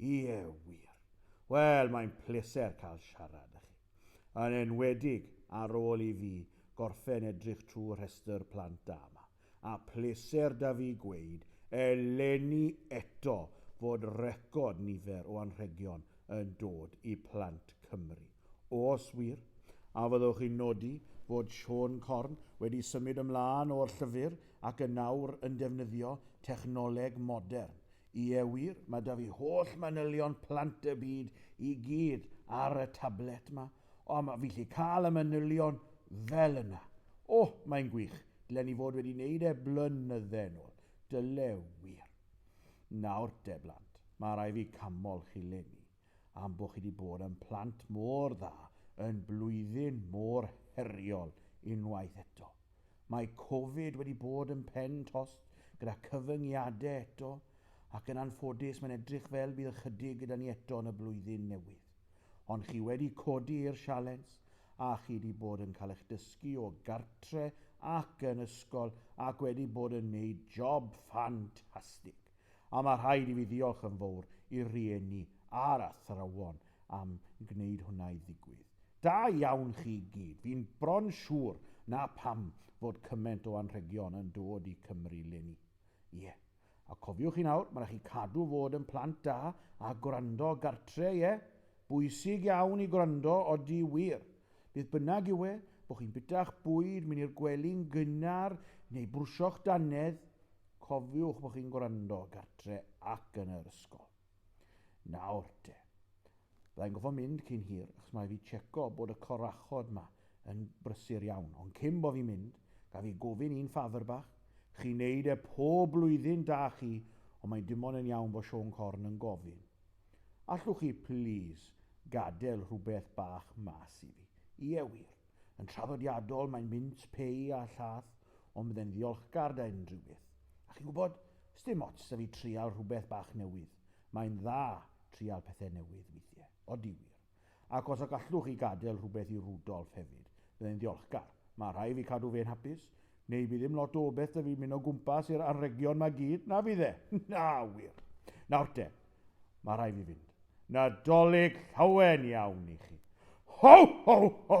Ie, wir. Wel, mae'n pleser cael siarad â chi. Yn enwedig ar ôl i fi gorffen edrych trwy rhestr plant da 'ma. A pleser 'da fi gweud, eleni eto, fod record nifer o anrhegion yn dod i Plant Cymru. Oes wir? A fyddwch chi'n nodi fod Siôn Corn wedi symud ymlaen o'r llyfr ac yn nawr yn defnyddio technoleg modern Ie wir, mae 'da fi holl manylion plant y byd i gyd ar y tablet 'ma, ond mae fi 'llu cael y manylion fel yna. O, mae'n gwych, dylen i fod wedi neud e blynydde yn ôl, dyle wir. Nawr te blant, mae rhai fi camol chi 'leni. am bo chi di bod yn plant mor dda yn blwyddyn mor heriol unwaith eto. Mae Covid wedi bod yn pen tost gyda cyfyngiadau eto ac yn anffodus mae'n edrych fel bydd ychydig gyda ni eto yn y blwyddyn newydd. Ond chi wedi codi i'r sialens a chi di bod yn cael eich dysgu o gartre ac yn ysgol ac wedi bod yn neud job ffantastig. A mae rhaid i fi ddiolch yn fowr i'r rhieni a'r athrawon am gwneud hwnna i ddigwydd. Da iawn chi i gyd, fi'n bron siŵr 'na pam fod cyment o anrhegion yn dod i Cymru 'leni. Ie. A cofiwch chi nawr, ma' 'na chi cadw fod yn plant da a gwrando gartre, ie? Bwysig iawn i gwrando, odi wir. Beth bynnag yw e, bo' chi'n bita'ch bwyd, myn' i'r gwely'n gynnar neu brwsio'ch dannedd, Cofiwch bod chi'n gwrando gartre ac yn yr ysgol. Nawr te. Byddai'n gofo mynd cyn hir, achos mae fi checo bod y corachod ma yn brysur iawn, ond cyn bo fi'n mynd, gaf i gofyn un ffafr bach? Chi'n neud e pob blwyddyn, da chi, ond mae dim ond yn iawn bo Siôn Corn yn gofyn. Allwch chi, plîs, gadel rhywbeth bach mas i fi? Ie wir. Yn traddodiadol, mae'n mynd pei a llath, ond byddai'n ddiolchgar da unrhyw beth. A chi'n gwybod, sdim ots da fi trial rhywbeth bach newydd. Mae'n dda trial pethau newydd weithiau. Odi wir. Ac os y gallwch chi gadael rhywbeth i Rudolf hefyd, byddai'n ddiolchgar. Mae rhai fi cadw fe'n hapus, neu by ddim lot o beth da fi mynd o gwmpas i'r anrhegion ma gyd, na fydd e? Na, wir. Nawr te, mae rhai fi fynd. Nadolig llawen iawn i chi. Ho, ho, ho!